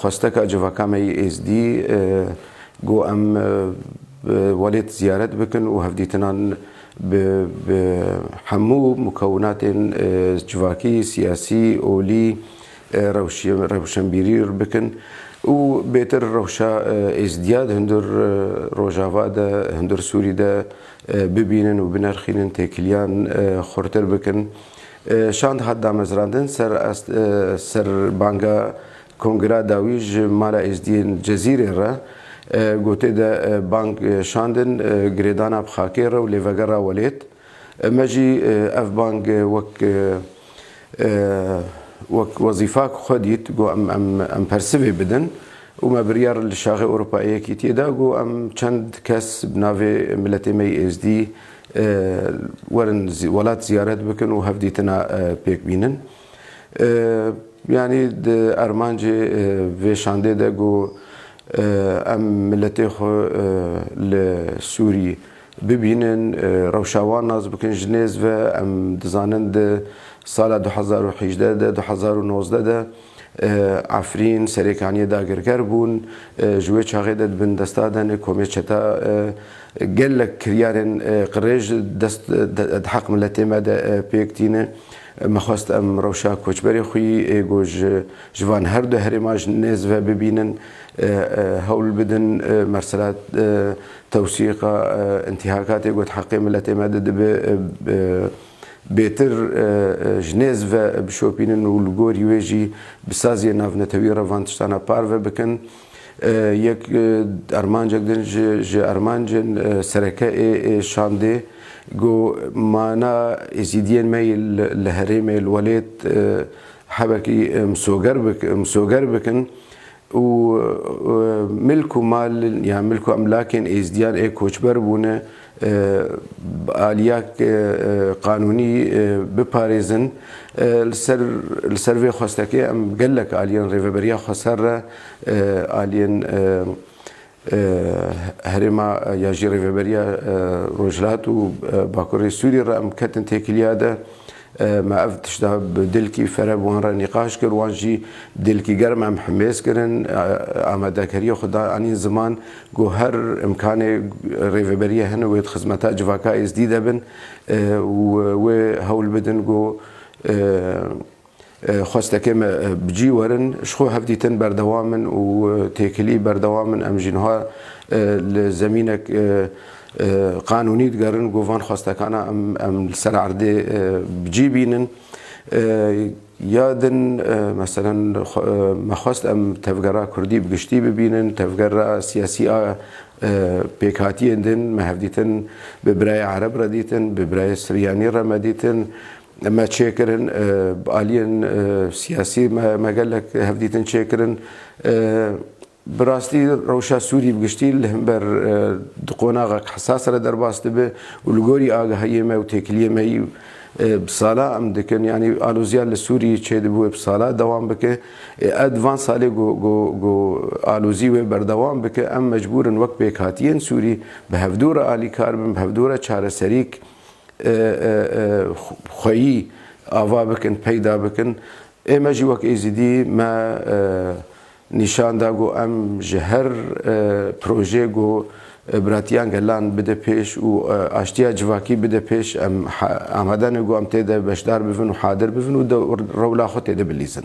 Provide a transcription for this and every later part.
Xwesteka civaka me yê Êzdî got em bi welêt ziyaret bikin û hevdîtinan bi bi hemû mukewinatên civakî, siyasî, olî, rewşenbîrî bikin û bêtir rewşa Êzdiya di hundir rojava de, hundir Sûrî de bibînin û binerxînin, têkiliyan xurtir bikin. Şand hat damezrandin ser banga Kongra dawî ji Mala Êzdiyên Cezîrê re. Gotê de bang şandin girêdana bi xakê re û lêvegera welêt. Me jî ev bang wek wek wezîfa ku xwe dît got em em em persivê bidin û me biryar li Şaxê Ewropa ê Yekîtiyê da got em çend kes bi navê miletê me yê Êzdî Werin welat ziyaret bikin û hevdîtina pêk bînin. Yanî di armancê vê şandê de got em miletê xwe li Sûrî bibînin, rewşa wan nas bikin ji nêz ve. Em dizanin di sala du hezar û hîjdeh de, du hezar û nozdeh de, Efrîn, Serêkaniyê dagirker bûn. Ji wê çaxê de di bin desta de ne komê çeta gelek kiryarên qirêj dest di heq miletê me de pêk tîne. Me xwest em rewşa koçberê xwî ê ku ji van her du herêman ji nêz ve bibînin, hewl bidin. Mesela tewsîqa întîhakatê got heqê miletê me di dibe. Bêtir ji nêz ve bişopînin û li gorî wê jî bi saziyên navnetewî re van tiştan re parve bikin. Yek armancek din ji armancên sereke ê şandê got, Mana Êzîdiyên me yê li herêmê li welêt hebekî misoger bikin. û milk û mal yan milk û emlakên êzdiyan ê koçber bûne bi aliya qanûnî biparêzin. Li ser li ser vê xwestekê em gelek aliyên Rêveberiya Xweser re aliyên Herêma ya ji Rêveberiya Rojhilat û Bakurê Sûriyê re em ketin têkiliya de. Me ev tişta bi dilkî fereb wan re nîqaş kir. Wan jî dilkî germ em himêz kirin. Amadekariya xwe da anîn ziman ku her îmkanê Rêveberiya hene wê di xizmeta civaka Êzdî de bin û wê hewl bidin ku Xwestekê me bi cî werin, ji xwe hevdîtin berdewam in û têkilî berdewam in. Em jî niha li zemînek qanûnî digerin ku van xwestekana em li ser erdê bi cî bînin. Ya din meselen me xwest em tevgera kurdî bi giştî bibînin, tevgera siyasî a pêkhatiyên din me hevdîtin bi birayê ereb re dîtin, bi birayê siryanî re me dîtin, Me çêkirin, bi aliyên siyasî me gelek hevdîtin çêkirin. Bi rastî rewşa Sûrî bi giştî li himber di qonaxek hesas re derbas dibe û li gorî agahiyê me û têkiliyê me yî bi sala em dikin yanî aloziya li Sûrî çêdibûye bi sala dewam bike. Ew di van salê ku alozî wê berdewam bike em mecbûr in wek pêkhatiyên Sûrî bi hevdû re alîkar bin, bi hevdû re çareserîk, xweyî ava bikin, peyda bikin. Ê me jî wek Êzidî me nîşan da ku em ji her projeyê ku biratiyan gelan bide pêş û aştiya civakî bide pêş em amade ne ku em tê de beşdar bibin û hadir bibin û rewla xwe tê de bilîzin.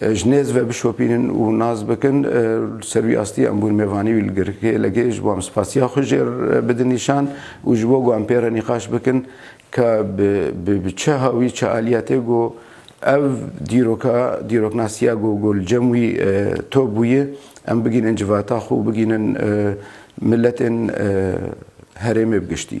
Ji nêz ve bişopînin û nas bikin. Li ser wî astî em bûn mêvanî wî li girkêlekê. Ji bo em spasiya xwe jê re bidin nîşan û ji bo ku em pê re nîqaş bikin ka bi bi çiha wî çi aliye tê ku ev dîroka dîroknasiya ku ku li cem wî top bûye em bigihînin civata xwe û bigihînin miletên herêmê bi giştî.